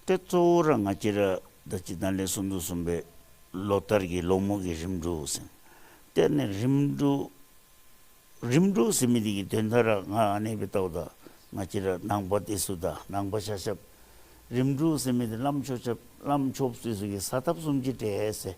དེ་གཙོ་བོ་ར་ང་ཀྱི་ར་ད་སྤྱི་དང་ལས་སུམ་ཅུ་གསུམ་པའི་ལོ་ལྟར་གྱི་ལོ་མུག་གི་རིམ་དྲུག་ཟིན། དེ་ནས་རིམ་དྲུག། རིམ་དྲུག་ཟིན་མི་དེ་ཀྱི་དོན་མཐར་ར་ང་ཨ་ནེ་བི་ཏའུ་ད་ང་ཀྱི་ར་ནང་པ་ཏི་སུ་ད་ནང་པ་ཤ་ཤབ། རིམ་དྲུག་ཟིན་མི་དེ་གླམ་ཆོ་ཆབ་གླམ་ཆོབ་སུས་སུ་ཀྱི་ས་ཐབ་གསུམ་གྱི་གྲས།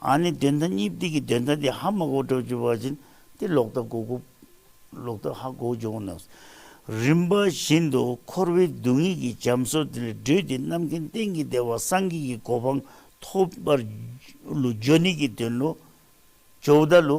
ཨ་ནི་བདེན་མཐའ་གཉིས་བསྡིགས་ཀྱི་བདེན་མཐའ་དེ་ཧ་མ་གོ་དྲག་ཅུ་བ་བཞིན་ཏེ་ལོག་ལྟ་གོ་དགུ། ལོག་ལྟ་ཧ་གོ་བཅུ་བ་ནགས། རིམ་པ་བཞིན་དུ་འཁོར་བའི་སྡུག་བསྔལ་གྱི་འབྱམས་སོ་དེ་ལས་སྒྲོལ་ཏེ་རྣམ་མཁྱེན་གཏན་གྱི་བདེ་བ་སངས་རྒྱས་ཀྱི་གོ་འཕང་ཐོབ་པར། ལུས་སྦྱོར་ནད་ཀྱི་དོན་ལོ། ཇོ་བོ་བརྡ་ལོ།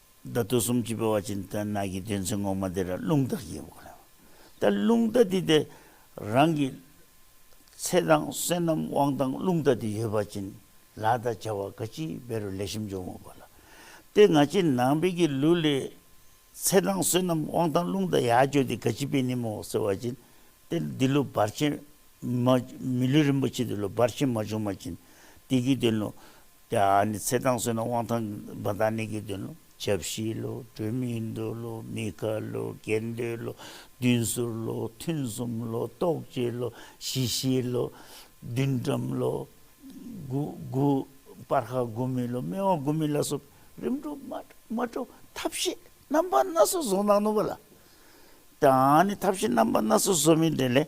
བརྡ་དོ་གསུམ་གྱིས་སྤེལ་བ་ཅན་དེ་དག་ནགས་ཀྱི་དོན་ཚན་ངོ་མ་དེ་ར་རླུང་རྟ་ཞེས་བགོ་ལ་ད་རླུང་རྟ་དེ་དེ་རང་གི་ཚེ་དང་བསོད་ནམས་དབང་དང་རླུང་རྟ་དེ་ཡོད་པ་ཅན་ལ་ད་བྱ་བ་ག་ཅིའི་དཔེ་རུ་ལས་ཞིམ་འཇོག་མོ་བ་ལ་སྟེ་ང་ཅི་ནང་པའི་གི་ལུགས་ལས་ཚེ་དང་བསོད་ནམས་དབང་དང་རླུང་རྟ་ཡ་བཅོ་དེ་ག་ཅིའི་དཔེ་ནི་མོ་ཟེར་བ་ཅན་ཏེ་འདི་ལོ་བར་ཆད་མ་མི་ལུས་རིན་པོ་ཆེ་དེ་ལོ་བར་ཆད་མ་བྱུང་མ་ཅན་དེ་གི་དོན་ནོ། ཡང་ནི་ཚེ་དང་བསོད་ནམས་དབང་ཐང་བ་དང་ནི་དགེ་འདུན་ལོ། ཞབས་བཞི་ལོ། སྒྲོལ་མའི་མདོ་ལོ། མི་ཁ་ལོ། དགེ་འདུན་ལོ། བདུན་ཟུར་ལོ། ཐུན་གསུམ་ལོ། རྟོགས་བརྗོད་ལོ། ཞི་ཤེས་ལོ། བདུན་འགྲམ་ལོ། དགུ། སྤར་ཁ་དགུ་མི་ལོ། སྨེ་བ་དགུ་མི་ལ་སོགས་རིམ་གྲོ། མ་གྲོ། ཐབས་ཤེས་རྣམ་པ་སྣ་ཚོགས་བཟུང་ན་ནོར་བ་ལ། ཡང་ནི་ཐབས་ཤེས་རྣམ་པ་སྣ་ཚོགས་བཟོ་མི་འདོད་ལས།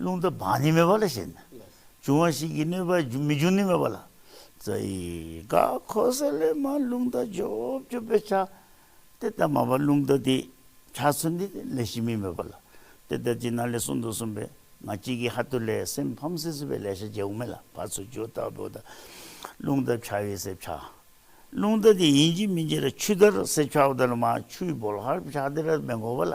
རླུང་རྟ་བག་ནི་མེད་པ་ལ་ཞེན། འབྱུང་བ་ཞིག་གིས་གནོད་པ་མི་འབྱུང་ནི་མེད་པ་ལ། རྩ་ཡི་ག་གོ་ས་ལས་མ་རླུང་རྟ་འཇོག་བཅུག་པའི་ཆ། དེ་ལྟར་མ་བ་རླུང་རྟ་དེ་ཆ་ཚུལ་འདི་ལས་གཞི་མི་མེད་པ་ལ། དེ་ལྟར་ཅིག་ན་ལས་གསུམ་དུ་གསུངས་པས་ང་གཅིག་གིས་ཧ་ཏུ་ལས་སེམས་ཕམ་སེ་བཟོད་པའི་ལས་བྱ་བྱེད་འོག་མིན་ལ་བར་ཚུལ་འཇོག་བཏགས་པའོ་ད། རླུང་རྟ་ཕྱ་བའི་སེར་ཕྱ། རླུང་རྟ་དེ་ཡིན་གཅིག་མིན་གཅིག་ལ་ཆུ་ལྟར་སེར་ཕྱའོ་ད་ལ་མ་ཆུའི་བོལ་ཧར་ཕྱ་དེ་ར་མེད་འགོག་པ་ལ།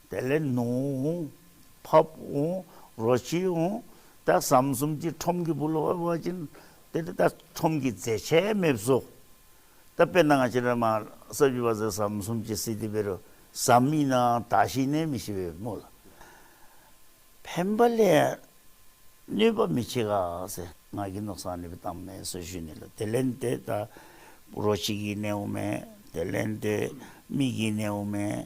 དེ་ལས་ནུ་འོང། ཕབ་འོང། རོ་བྱེད་འོང། ད་ཟམ་གསུམ་གྱིས་ཁྲོམ་གྱི་བུ་ལོ་བ་བ་ཅན། དེ་ལྟ་ཁྲོམ་གྱི་རྫས་ཆས་མེད་བཟོ། ད་དཔེར་ན་ང་ཅི་ར་མ་ས་བཞི་བ་ཟེར་ཟམ་གསུམ་གྱིས་སྲིད་དེ་བེ་རུ་ཟམ་མིན་ནའང་ད་ཤི་ནས་མི་ཤི་བའི་མོ་ལ། ཕན་པ་ལས་གནོད་པ་མི་བྱེད་ག་ཟེ་ང་གི་ནོག་སང་ནི་བི་ཏམ་མེ་སོ་བཞུ་ནི་ལ་དེ་ལན་དེ་ད་རོ་བྱེད་གི་ནེའུ་མེ་དེ་ལན་དེ་མིག་གི་ནེའུ་མེ།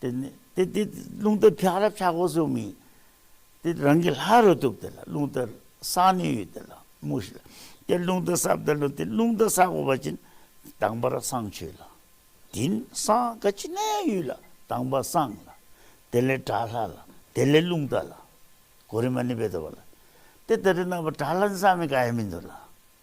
དེ་ནི་དེ་དེ་རླུང་དལ་འཕྱག་རབ་ཆག་སྒོ་སུ་མིན། དེ་རང་གི་ལྷ་རུ་བཏུབ་དེ་ལ་རླུང་དལ་སག་ནི་ཡོད་དེ་ལ་མུ་ཤི་ལ་དེ་རླུང་དལ་སག་བདལ་ལོ་དེ་རླུང་དལ་སག་སྒོ་བ་ཅིན་དང་བར་སང་ཆོད་ལ། དིན་སང་ག་ཅི་ནའི་ཡུལ་ལ་དང་བ་སང་ལ་དེ་ལས་དྲ་ལྷ་ལ་དེ་ལས་རླུང་དལ་ལ་གོ་རི་མ་ནི་བེ་དོ་བ་ལ་དེ་དལ་རི་ནང་བ་དྲ་ལྷ་ནི་སང་མིན་ག་ཡ་མིན་དོ་ལ།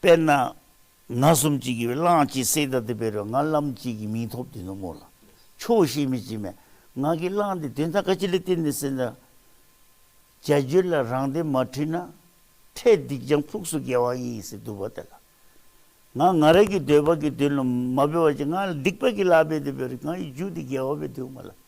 དཔེར་ན། ན་གསུམ་གཅིག་གིས་གླང་གཅིག་བསད་ད་དེ་བེ་རོས་ང་ལམ་གཅིག་གིས་མིང་ཐོབ་དེ་ནུབ་མོ་ལ་ཆོས་བཤད་མི་བྱེད་མས་ང་གིས་གླང་དེ་དོན་དག་ག་ཅི་ལ་བསྟན་ནས་བསད་ད། བྱ་རྒྱུད་ལ་རང་དེ་མ་ཁྲིད་ན། ཁྲལ་སྡིག་ལྗང་ཕུགས་སུ་འགེལ་བ་ཡིན་ཟེར་དུ་བ་དེ་ལ། ང་ང་ར་གི་འདོད་པ་གི་དོན་ལ་མ་འབད་བ་ཅི་ང་ལ་སྡིག་པ་གི་ལ་འབད་དེ་བེ་རོས་ང་ཡི་རྒྱུད་དེ་འགེལ་བ་བེ་དུ་མ་ལ།